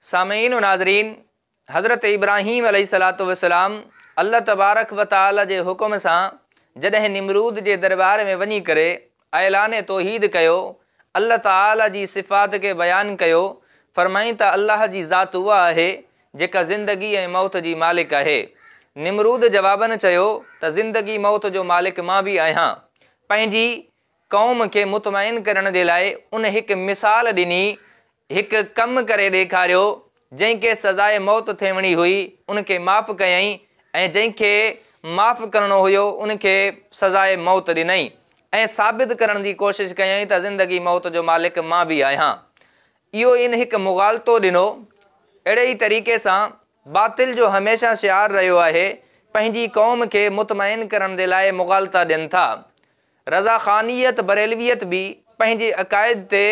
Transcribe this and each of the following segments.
سامعين و ناظرين! حضرت ابراهيم عليه الصلوة والسلام الله تبارڪ و تعالي جي حڪم سان جڏهن نمرود جي درٻار ۾ وڃي ڪري اعلان توحيد ڪيو، الله تعالي جي صفات کي بيان ڪيو، فرمائين ته الله جي ذات اها آهي جيڪا زندگي ۽ موت جي مالڪ آهي. نمرود جواباً چيو ته زندگي موت جو مالڪ مان به آهيان. پنهنجي قوم کي مطمئن ڪرڻ جي لاء ان هڪ مثال ڏني، هڪ ڪم ڪري ڏيکاريو، جنهن کي سزائي موت ٿيوڻي هئي ان کي معاف ڪيائين ۽ جنهن کي معاف ڪرڻو هيو ان کي سزائي موت ڏنئين ۽ ثابت ڪرڻ جي ڪوشش ڪيائين ته زندگي موت جو مالڪ مان به آهيان. اهو ان هڪ مغالطو ڏنو. اهڙي ئي طريقي سان باطل جو هميشه شعار رهيو آهي، پنهنجي قوم کي مطمئن ڪرڻ جي لاء مغالطا ڏين ٿا. رضا خانيت بريلويت به پنهنجي عقائد تي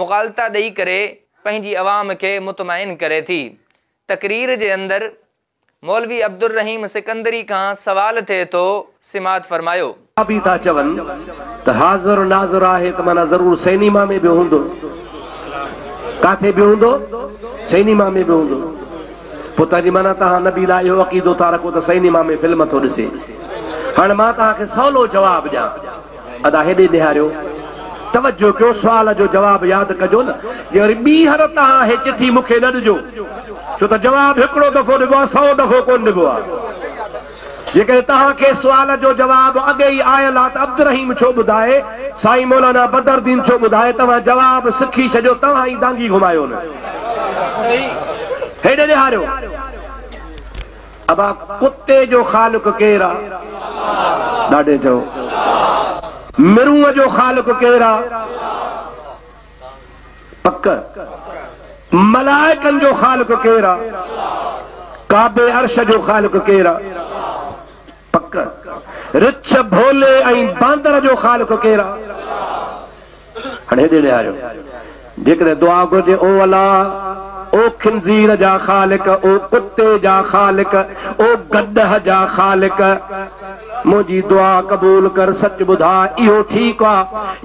مغالطا ڏئي ڪري پنهنجي عوام کي مطمئن ڪري ٿي. تقرير جي اندر مولوي عبدالرحيم سڪندري کان سوال ٿئي ٿو سماعت فرمايو. اها به ٿا چون ته حاضر ناظر آهي ته معنيٰ ضرور سئنيما ۾ به هوندو. ڪاٿي به هوندو؟ سئنيما ۾ به هوندو. پوء تنهن جي معنيٰ توهان نبي لاء اهو عقيدو ٿا رکو ته سئنيما ۾ فلم ٿو ڏسي. هاڻي مان توهان کي سولو جواب ڏيان. ادا هيڏي نهاريو. توجه ڪيو سوال جو جواب ياد ڪجو نه. جي وري ٻيهر توهان هي چٺي مون کي نه ڏجو. ڇو ته جواب هڪڙو دفعو ڏبو آهي سئو دفعو ڪونه ڏبو آهي. جيڪڏهن توهان کي سوال جو جواب اڳي ئي آيل آ ته عبدالرحيم ڇو ٻڌائي سائين مولانا بدرالدين ڇو ٻڌائي توهان جواب سکي ڇڏيو توهان ئي دانگي گهمايو نه هيڏي ڏيهاريو ابا ڪتي جو خالق ڪير آ ڏاڍي چئو مرونء جو خالق ڪير آ پڪ ملائڪن جو خالق ڪير آ؟ ڪعبي عرش جو خالق ڪير آ؟ پڪ رڇ ڀولي ۽ باندر جو خالق ڪير آ؟ هاڻي هيڏي نهاريو جيڪڏهن دعا گهرجي او الا او خنزير جا خالق او ڪتي جا خالق او گڏهه جا خالق منهنجي دعا قبول ڪر سچ ٻڌاء اهو ٺيڪ آ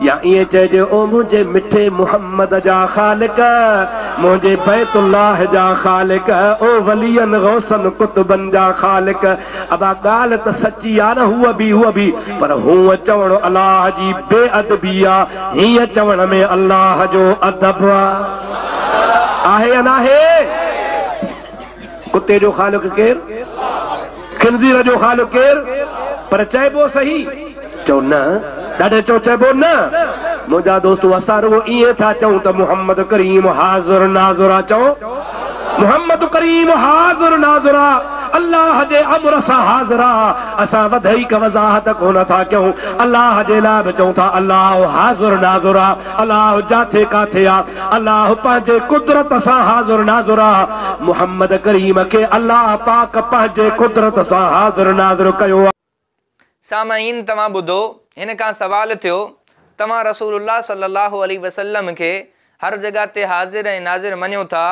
يا ائين چئجي او منهنجي مٺي محمد جا خالق منهنجي بيت الله جا خالق او ولين غوثن قطبن جا خالق ابا ڳالهه ته سچي آ نه هو به هو به پر هونء چوڻ الله جي بي ادبي آ هينء چوڻ ۾ الله جو ادب آ آهي يا ناهي؟ ڪتي جو خالق ڪير؟ خنزير جو خالق ڪير؟ پر چئبو سهي؟ چئو نه. ڏاڍي چئو چئبو نه. منهنجا دوستو اسان رڳو ائين ٿا چئون ته محمد ڪريم حاضر ناظر آ چئو محمد ڪريم حاضر ناظر آ الله جي امر سان حاضر آ اسان وڌيڪ وضاحت ڪونه ٿا ڪيون الله جي لاء به چئون ٿا الله حاضر ناظر آ. الله جاٿي ڪاٿي آ. الله پنهنجي قدرت سان حاضر ناظر آ. محمد ڪريم کي الله پاڪ پنهنجي قدرت سان حاضر ناظر ڪيو آ. سامعين توهان ٻڌو هن کان سوال ٿيو توهان رسول الله صلي الله عليه وسلم کي هر جڳهه تي حاضر ۽ ناظر مڃو ٿا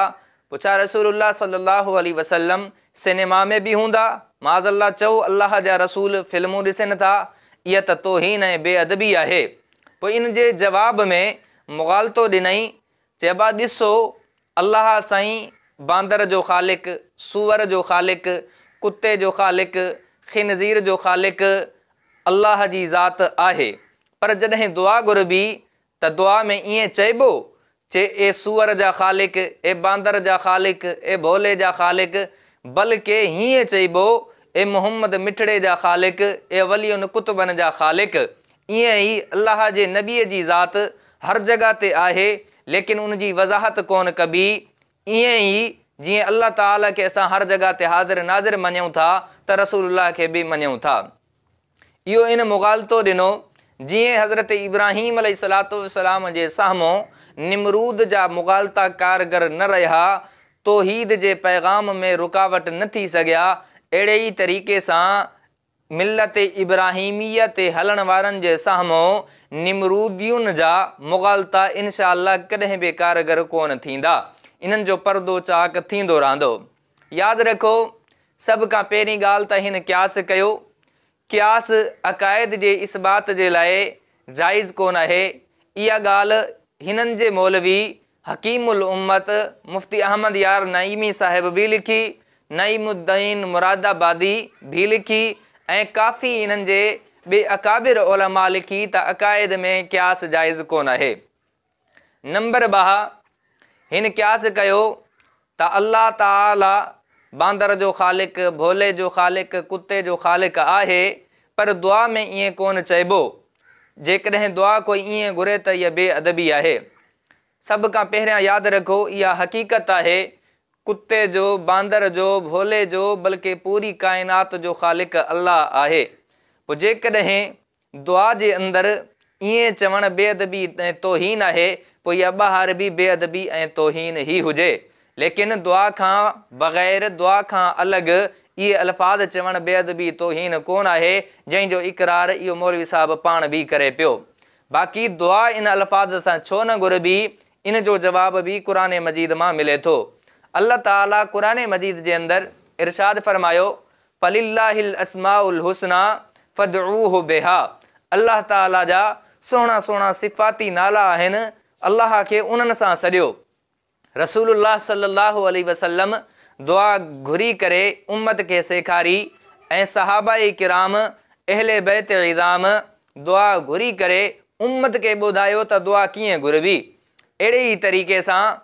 پڇا رسول الله صلي الله عليه وسلم سينيما ۾ به هوندا معاذ الله چئو الله جا رسول فلمون ڏسين ٿا اها ته توهين ۽ بي ادبي آهي پوء ان جي جواب ۾ مغالطو ڏنائين، چئبا ڏسو، الله سائين باندر جو خالق، سوئر جو خالق، ڪتي جو خالق، خنزير جو خالق الله جي ذات آهي پر جڏهن دعا گهربي ته دعا ۾ ائين چئبو چي اي سوئر جا خالق، اي باندر جا خالق، اي ڀولي جا خالق، بلڪه هيئن چئبو، اي محمد مٺڙي جا خالق، اي ولين قطبن جا خالق. ايئن ئي الله جي نبيء جي ذات هر جڳهه تي آهي، ليڪن ان جي وضاحت ڪونه ڪبي. ايئن ئي جيئن الله تعاليٰ کي اسان هر جڳهه تي حاضر ناظر مڃيون ٿا ته رسول الله کي به مڃيون ٿا. اهو ان مغالطو ڏنو، جيئن حضرت ابراهيم عليه الصلوة والسلام جي سامهون نمرود جا مغالطا ڪارگر نه رهيا، توحيد جي پيغام ۾ رڪاوٽ نه ٿي سگهيا، اهڙي ئي طريقي سان ملت ابراهيميه تي هلڻ وارن جي سامهون نمرودين جا مغالطا انشاء الله ڪڏهن به ڪارگر ڪونه ٿيندا، انهن جو پردو چاڪ ٿيندو رهندو. ياد رکو، سڀ کان پهرين ڳالهه ته هن قياس ڪيو. قياس عقائد جي اثبات جي لاء جائز ڪونه آهي. اها ڳالهه هنن جي مولوي حڪيم الامت مفتي احمد يار نعيمي صاحب به لکي، نعيم الدين مرادآبادي به لکي ۽ ڪافي هنن جي ٻئي اڪابر علماء لکي ته عقائد ۾ قياس جائز ڪونه آهي. نمبر ٻه، هن قياس ڪيو ته الله تعاليٰ باندر جو خالق، ڀولي جو خالق، ڪتي جو خالق آهي، پر دعا ۾ ائين ڪونه چئبو. جيڪڏهن دعا ڪوئي ائين گهري ته اها بي ادبي آهي. سڀ کان پهريان ياد رکو اها حقيقت آهي، ڪتي جو، باندر جو، ڀولي جو، بلڪه پوري ڪائنات جو خالق الله آهي. پوء جيڪڏهن دعا جي اندر ائين چوڻ بي ادبي ۽ توهين آهي، پوء اها ٻاهر به بي ادبي ۽ توهين ئي هجي. ليڪن دعا کان بغير، دعا کان الڳ، اهي الفاظ چوڻ بي ادبي توهين ڪونه آهي، جنهن جو اقرار اهو مولوي صاحب پاڻ به ڪري پيو. باقي دعا ان الفاظ سان ڇو نه گهربي، ان جو جواب به قرآن مجيد مان ملي ٿو. الله تعاليٰ قرآن مجيد جي اندر ارشاد فرمايو، فلله الاسماء الحسني فادعوه بها الله تعالي جا سهڻا سهڻا صفاتي نالا آهن الله کي انهن سان سڏيو رسول الله صلي الله عليه وسلم دعا گهري ڪري امت کي سيکاري ۽ صحابه ڪرام اهل بيت عظام دعا گهري ڪري امت کي ٻڌايو ته دعا ڪيئن گهربي اهڙي ئي طريقي سان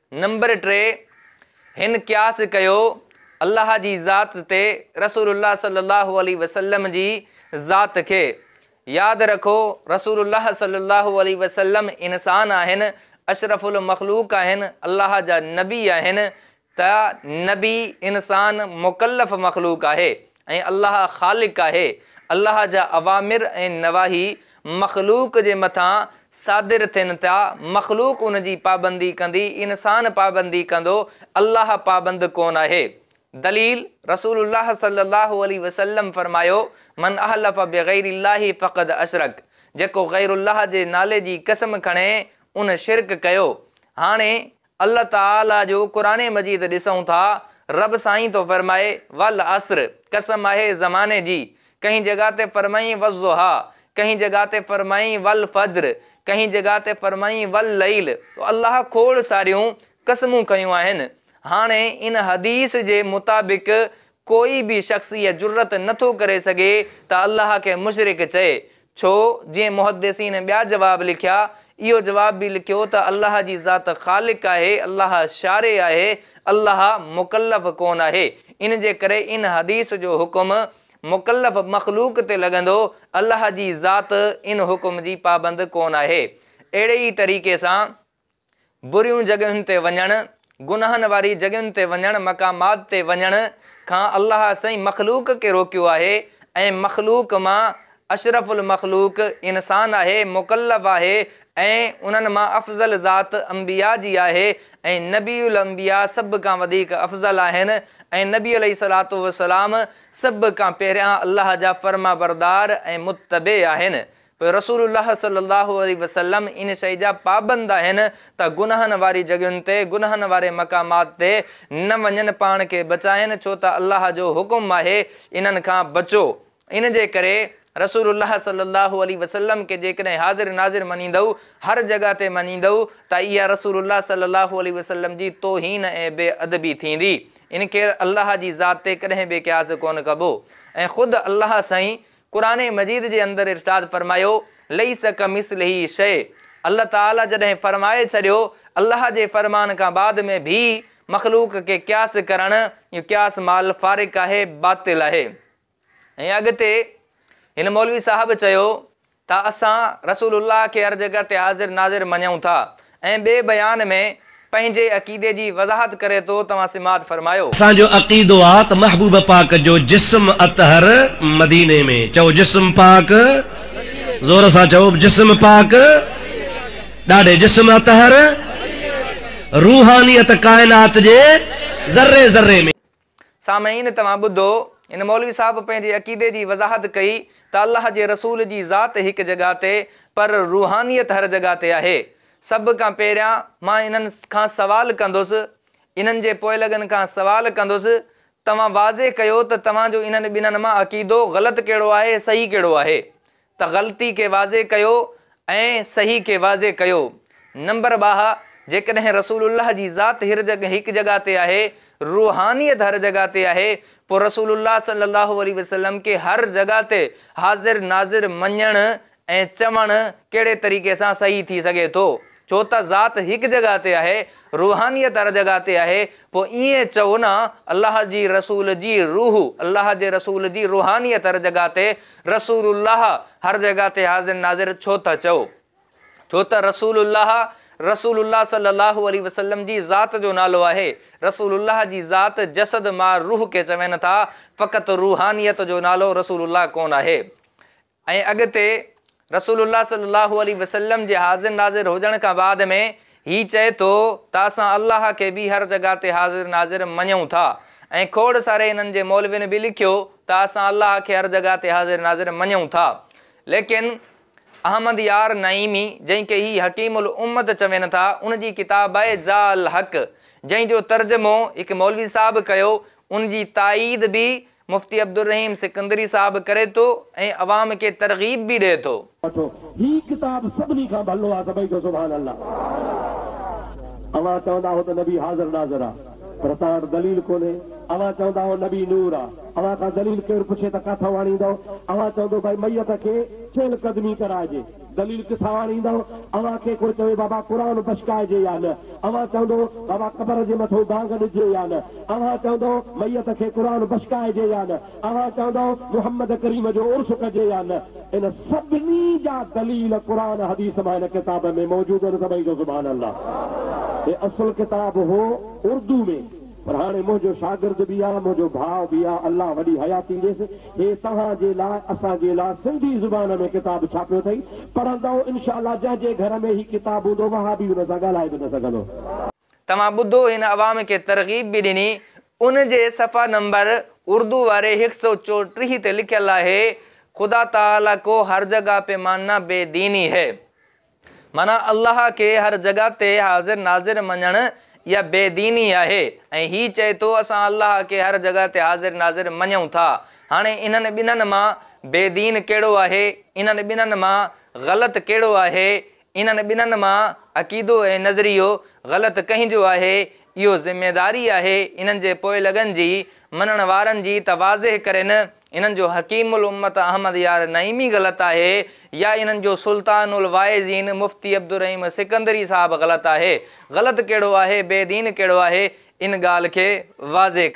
نمبر ٽي، هن قياس ڪيو الله جي ذات تي رسول الله صلي الله عليه وسلم جي ذات کي. ياد رکو رسول الله صلي الله عليه وسلم انسان آهن، اشرف المخلوق آهن، الله جا نبي آهن ته نبي انسان مڪلف مخلوق آهي. ۽ الله خالق آهي، الله جا اوامر ۽ نواهي مخلوق جي مٿان صادر ٿين ٿا، مخلوق ان جي پابندي ڪندي، انسان پابندي ڪندو، الله پابند ڪونه آهي. دليل، رسول الله صلي الله عليه وسلم فرمايو، من احلف بغير الله فقد اشرڪ، جيڪو غير الله جي نالي جي قسم کڻي، ان شرڪ ڪيو. هاڻي الله تعالي جو قرآن مجيد ڏسون ٿا، رب سائين ٿو فرمائي، والعصر، قسم آهي زماني جي، ڪنهن جڳهه تي فرمائين والضحيٰ، ڪنهن جڳهه تي فرمائين والفجر، ڪنهن جڳهه تي فرمائين والليل، تو الله کوڙ ساريون قسمون کنيون آهن. هاڻي ان حديث جي مطابق ڪوئي به شخص اها جرئت نه ٿو ڪري سگهي ته الله کي مشرڪ چئي. ڇو؟ جيئن محدثين ٻيا جواب لکيا، اهو جواب به لکيو ته الله جي ذات خالق آهي، الله شارع آهي، الله مڪلف ڪونه آهي. ان جي ڪري ان حديث جو حڪم مڪلف مخلوق تي لڳندو، الله جي ذات ان حڪم جي پابند ڪونه آهي. اهڙي ئي طريقي سان. بريون جڳهين تي وڃڻ، گناهن واري جڳهين تي وڃڻ، مقامات تي وڃڻ کان الله سائين مخلوق کي روڪيو آهي ۽ مخلوق مان اشرف المخلوق انسان آهي، مڪلف آهي ۽ انهن مان افضل ذات انبياء جي آهي ۽ نبي الانبياء سڀ کان وڌيڪ افضل آهن ۽ نبي عليه الصلوة والسلام سڀ کان پهريان الله جا فرمانبردار ۽ متبع آهن پوء رسول الله صلي الله عليه وسلم ان شيء جا پابند آهن ته گناهن واري جڳهين تي، گناهن واري مقامات تي، نه وڃن پاڻ کي بچائين ڇو ته الله جو حڪم آهي انهن کان بچو. ان جي ڪري رسول الله صلي الله عليه وسلم کي جيڪڏهن حاضر ناظر مڃيندؤ، هر جڳهه تي مڃيندؤ ته اها رسول الله صلي الله عليه وسلم جي توهين ۽ بي ادبي ٿيندي. ان کي الله جي ذات تي ڪڏهن به قياس ڪونه ڪبو ۽ خود الله سائين قرآن مجيد جي اندر ارشاد فرمايو، ليس ڪمثله شيء الله تعالي جڏهن فرمائي ڇڏيو، الله جي فرمان کان بعد ۾ ڀي مخلوق کي قياس ڪرڻ اهو قياس مع الفارق آهي باطل آهي. ۽ اڳتي هن مولوي صاحب چيو ته اسان رسول الله کي هر جڳهه تي حاضر ناظر مڃون ٿا ۽ ٻئي بيان ۾ پنهنجي عقيدي جي وضاحت ڪري ٿو توهان سماعت فرمايو. اسان جو عقيدو آ ته محبوب پاڪ جو جسم اطهر مديني ۾، چئو جسم پاڪ زور سان چئو جسم پاڪ ڏاڍي جسم اطهر روحانيت ڪائنات جي ذري ذري ۾. سامعين توهان ٻڌو هن مولوي صاحب پنهنجي عقيدي جي وضاحت ڪئي ته الله جي رسول جي ذات هڪ جڳهه تي پر روحانيت هر جڳهه تي آهي سڀ کان پهريان مان انهن کان سوال ڪندس انهن جي پوئلڳن کان سوال ڪندس توهان واضح ڪيو ته توهان جو انهن ٻنهن مان عقيدو غلط ڪهڙو آهي صحيح ڪهڙو آهي ته غلطي کي واضح ڪيو ۽ صحيح کي واضح ڪيو. نمبر ٻاهه، جيڪڏهن رسول الله جي ذات هڪ جڳهه تي آهي، روحانيت هر جڳهه تي آهي، پوء رسول الله صلي الله عليه وسلم کي هر جڳهه تي حاضر ناظر مڃڻ ۽ چوڻ ڪهڙي طريقي سان صحيح ٿي سگهي ٿو؟ ڇو ته ذات هڪ جڳهه تي آهي، روحانيت هر جڳهه تي آهي، پوء ائين چئو نه الله جي رسول جي روح، الله جي رسول جي روحانيت هر جڳهه تي، رسول الله هر جڳهه تي حاضر ناظر ڇو ٿا چئو؟ ڇو ته رسول الله، رسول الله صلّي اللّٰه عليه وسلّم جي ذات جو نالو آهي، رسول الله جي ذات جسد مان روح کي چون ٿا، فقط روحانيت جو نالو رسول الله ڪونه آهي. ۽ اڳتي رسول الله صلي الله عليه وسلم جي حاضر ناظر هجڻ کان بعد ۾ هي چئي ٿو ته اسان الله کي به هر جڳهه تي حاضر ناظر مڃون ٿا ۽ کوڙ ساري هنن جي مولوين به لکيو ته اسان الله کي هر جڳهه تي حاضر ناظر مڃون ٿا ليڪن احمد يار نعيمي جنهن کي هي حڪيم الامت چون ٿا ان جي ڪتاب آهي جاء الحق جنهن جو ترجمو هڪ مولوي صاحب ڪيو ان جي تائيد به مفتي عبدالرحيم سڪندري صاحب ڪري ٿو ۽ عوام کي ترغيب به ڏئي ٿو. وٺو هي ڪتاب سڀني کان ڀلو آ سڀئي چئو سبحان الله اوهان چوندا هو ته نبي حاضر ناظر آ پر توهان وٽ دليل ڪونهي اوهان چوندا هو نبي نور آ اوهان کان دليل ڪير پڇي ته ڪاٿئون آڻيندئو اوهان چوندو ڀائي ميت کي چهل قدمي ڪرائجي دليل ڪٿان آڻيندؤ؟ اوهان کي ڪو چوي بابا قرآن بشڪائجي يا نه؟ اوهان چوندؤ بابا قبر جي مٿو ڳانگ ڏجي يا نه؟ اوهان چوندؤ ميت کي قرآن بشڪائجي يا نه؟ اوهان چوندؤ محمد ڪريم جو عرس ڪجي يا نه؟ ان سڀني جا دليل قرآن حديث مان هن ڪتاب ۾ موجود آهن سڀئي چئو سبحان الله. هي اصل ڪتاب هو اردو ۾. پر هاڻي منهنجو شاگرد به آ، منهنجو ڀاء به آ، الله وڏي حياتي ڏيس، هي توهان جي لاء، اسان جي لاء سنڌي زبان ۾ ڪتاب ڇاپيو اٿئي، پڙهندؤ انشاء الله، جنهن جي گهر ۾ هي ڪتاب هوندو، وهابي هن سان ڳالهائي به نه سگهندو. توهان ٻڌو هن عوام کي ترغيب به ڏني، ان جي صفحه نمبر اردو واري هڪ سؤ چوٽيهه تي لکيل آهي، خدا تعاليٰ ڪو هر جگهه پيمانه بي ديني هي. معنيٰ الله کي هر جڳهه تي حاضر ناظر مڃڻ اها بي ديني آهي ۽ هي چئي ٿو اسان الله کي هر جڳهه تي حاضر ناظر مڃون ٿا. هاڻي انهن ٻنهن مان بي دين ڪهڙو آهي؟ انهن ٻنهن مان غلط ڪهڙو آهي؟ انهن ٻنهن مان عقيدو ۽ نظريو غلط ڪنهن جو آهي؟ اهو ذميداري آهي انهن جي پوئلڳن جي، مڃڻ وارن جي ته واضح ڪرين. انهن جو حڪيم الامت احمد يار نعيمي غلط آهي يا انهن جو سلطان الواعظين مفتي عبدالرحيم سڪندري صاحب غلط آهي. غلط ڪهڙو آهي بي دين ڪهڙو آهي ان ڳالهه کي واضح ڪري.